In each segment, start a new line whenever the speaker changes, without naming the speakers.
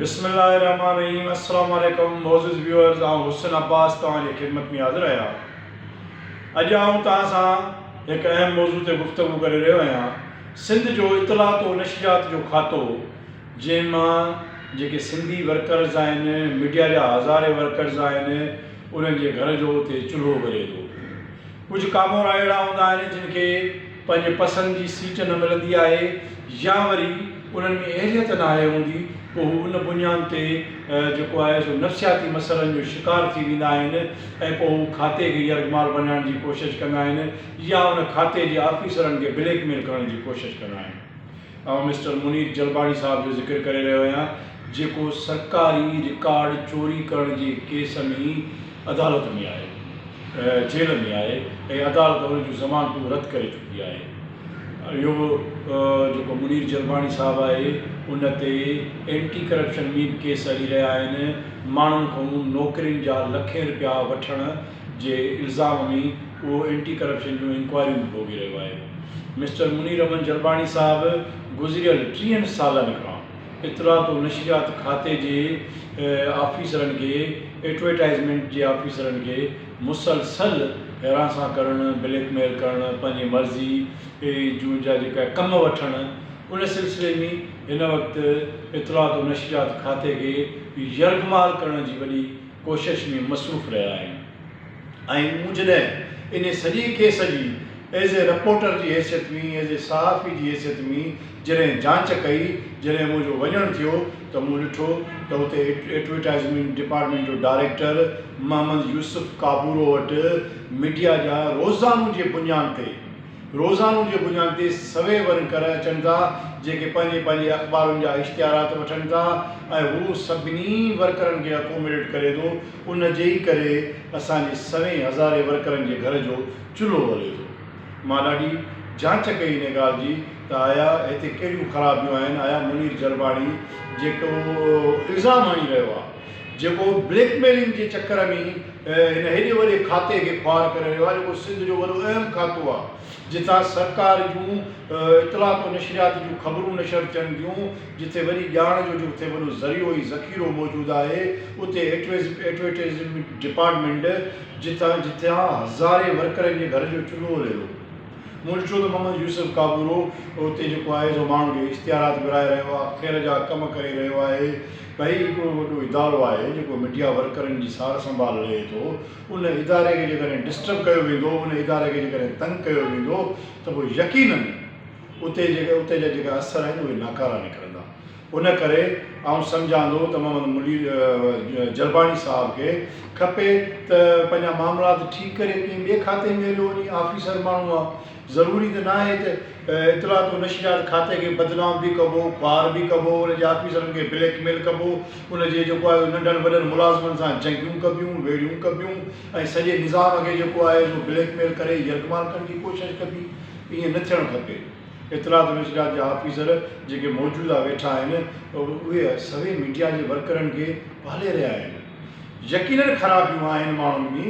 بسم الله الرحمٰن الرحيم السلام عليڪم معزز ويورز آئون حسن عباس توهان جي خدمت ۾ حاضر آهيان اڄ آئون توهان سان هڪ اهم موضوع تي گفتگو ڪري رهيو آهيان سنڌ جو اطلاعات و نشريات جو کاتو جنهن مان جيڪي سنڌي ورڪرز آهن ميڊيا جا هزارين ورڪرز آهن انهن جي گهر جو اتي چلهو ٻري ٿو ڪجهه ڪامورا اهڙا هوندا آهن جن کي پنهنجي پسند جي سيٽ نه ملندي آهي يا وري انهن ۾ اهليت ناهي هوندي پوء هو ان بنيان تي جيڪو آهي سو نفسياتي مسئلن جو شڪار ٿي ويندا آهن ۽ پوء هو کاتي کي يرغمال بنائڻ جي ڪوشش ڪندا آهن يا ان کاتي جي آفيسرن کي بليڪ ميل ڪرڻ جي ڪوشش ڪندا آهن. آئون مسٽر منير جلباڻي صاحب جو ذڪر ڪري رهيو آهيان جيڪو سرڪاري رڪارڊ چوري ڪرڻ جي ڪيس ۾ عدالت ۾ آهي جيل ۾ آهي ۽ عدالت ان جون ضمانتون رد ڪري چڪي آهي اهو جيڪو منير جلباڻي صاحب آهي ان تي اينٽي ڪرپشن مين ڪيس هلي رهيا آهن ماڻهن کان نوڪرين جا لکين رپيا وٺڻ جي الزام ۾ اهو اينٽي ڪرپشن جون انڪوائريون به ڀوڳي رهيو آهي مسٽر منير احمد جرباڻي صاحب گذريل ٽيهن سالن کان اطلاعات و نشريات کاتي جي آفيسرن کي ايڊورٽائيزمينٽ جي آفيسرن کي مسلسل هراسان ڪرڻ بليڪ ميل ڪرڻ پنهنجي مرضي جون جا جيڪا ڪم وٺڻ ان سلسلي ۾ هن وقت اطلاعات و نشريات کاتي کي يرغمال ڪرڻ جي وڏي ڪوشش ۾ مصروف رهيا آهن ۽ مون جڏهن انهي سڄي ڪيس جي ايز اي رپورٽر جي حيثيت ۾ ايز اي صحافي جي حيثيت ۾ جڏهن جانچ ڪئي جڏهن منهنجو وڃڻ ٿيو ته مون ڏٺو ته اتي ايڊورٽائيزمينٽ ڊپارٽمينٽ جو ڊائريڪٽر محمد يوسف ڪابورو وٽ ميڊيا جا روزانو جي بنيان تي روزانو جي بنياد تي سوين ورن ڪر اچن ٿا جيڪي پنهنجي پنهنجي اخبارن جا اشتهارات وٺن ٿا ۽ هو سڀني ورڪرن کي اڪوميڊيٽ ڪري ٿو ان جي ئي ڪري اسان جي سوين هزارين ورڪرن جي گهر جو چلهو ٻري ٿو مان ڏاڍي جانچ ڪئي ان ڳالهه جي ته آيا هتي ڪهڙيون خرابيون آهن آيا منير جرباڻي جيڪو الزام هڻي رهيو آهي جيڪو بليڪ ميلنگ جي چڪر ۾ هن هيڏي وڏي کاتي کي خوار ڪري رهيو آهي جيڪو سنڌ جو وڏو اهم کاتو آهي جتان سرڪار جون اطلاعات و نشريات جون خبرون نشر ٿين ٿيون جتي وڏي ڄاڻ جو جتي وڏو ذريعو ۽ ذخيرو موجود آهي اتي ايڊورٽيزمينٽ ڊپارٽمينٽ جتان جتان هزارين ورڪرن جي گهر جو چلهو هلي ٿو منشود محمد يوسف ڪابورو اتي جيڪو آهي سو ماڻهن جون اشتهارات ورهائي رهيو آهي خير جا ڪم ڪري رهيو آهي پي اي هڪڙو وڏو ادارو آهي جيڪو ميڊيا ورڪرن جي سار سنڀال لهي ٿو ان اداري کي جيڪڏهن ڊسٽرب ڪيو ويندو ان اداري کي جيڪڏهن تنگ ڪيو ويندو ته پوء يقينن اتي جيڪي اتي جا جيڪا اثر آهن اهي ناڪارا نڪرندا ان ڪري آئون سمجهان ٿو ته محمد منير جرباڻي صاحب کي کپي ته پنهنجا معاملات ٺيڪ ڪري ڪنهن ٻئي کاتي ۾ هليو وڃي آفيسر ماڻهو آهي ضروري ته ناهي ته اطلاعات و نشريات کاتي کي بدنام به ڪبو، خوار به ڪبو، ان جي آفيسرن کي بليڪ ميل ڪبو، ان جي جيڪو آهي ننڍن وڏن ملازمن سان جنگيون ڪبيون، ويڙهيون ڪبيون ۽ سڄي نظام کي جيڪو آهي سو بليڪ ميل ڪري يرغمال ڪرڻ جي ڪوشش ڪبي. ائين نه ٿيڻ کپي. اطلاعات و نشريات جا آفيسر جيڪي موجوده ويٺا آهن اهي سوين ميڊيا جي ورڪرن کي پالي رهيا آهن. يقينن خرابيون آهن ماڻهن ۾.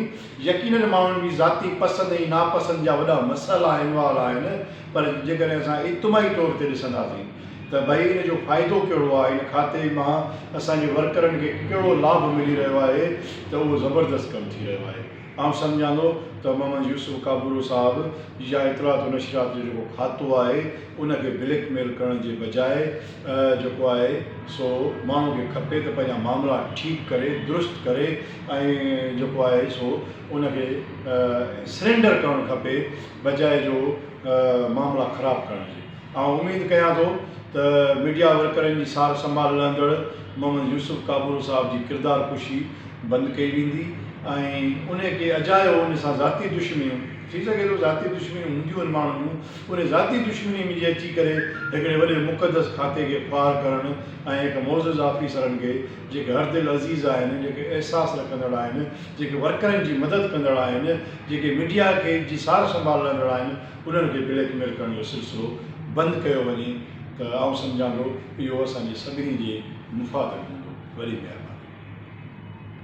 يقينن ماڻهن جي ذاتي پسند ۽ ناپسند جا وڏا مسئلا انوالو آهن پر جيڪڏهن اسان اجتماعي طور تي ڏسنداسين ته ڀئي ان جو فائدو ڪهڙو آهي ان کاتي مان اسان جي ورڪرن کي ڪهڙو لاڀ ملي رهيو آهي ته اهو زبردست ڪم ٿي رهيو آهي آئون سمجهان ٿو ته محمد يوسف ڪابورو صاحب يا اطلاعات و نشريات جو جيڪو کاتو آهي ان کي بليڪ ميل ڪرڻ جي بجاء جيڪو آهي سو ماڻهو کي کپي ته پنهنجا معاملا ٺيڪ ڪري درست ڪري ۽ جيڪو آهي سو ان کي سرينڊر ڪرڻ کپي بجاء جو معاملا خراب ڪرڻ جي آئون اميد ڪيان ٿو ته ميڊيا ورڪرن جي سار سنڀال لهندڙ محمد يوسف ڪابورو صاحب جي ڪردار ڪشي بند ڪئي ويندي ۽ ان کي اجايو ان سان ذاتي دشمنيون ٿي سگهي ٿو ذاتي دشمنيون هونديون آهن ماڻهن جون ان ذاتي دشمني ۾ جي اچي ڪري هڪڙي وڏي مقدس کاتي کي خوار ڪرڻ ۽ هڪ معزز آفيسرن کي جيڪي هر دل عزيز آهن، جيڪي احساس رکندڙ آهن، جيڪي ورڪرن جي مدد ڪندڙ آهن، جيڪي ميڊيا کي جي سار سنڀال لهندڙ آهن انهن کي بليڪ ميل ڪرڻ جو سلسلو بند ڪيو وڃي ته آئون سمجهان ٿو اهو اسان جي سڀني جي مفاد ۾ هوندو. وڏي مهرباني.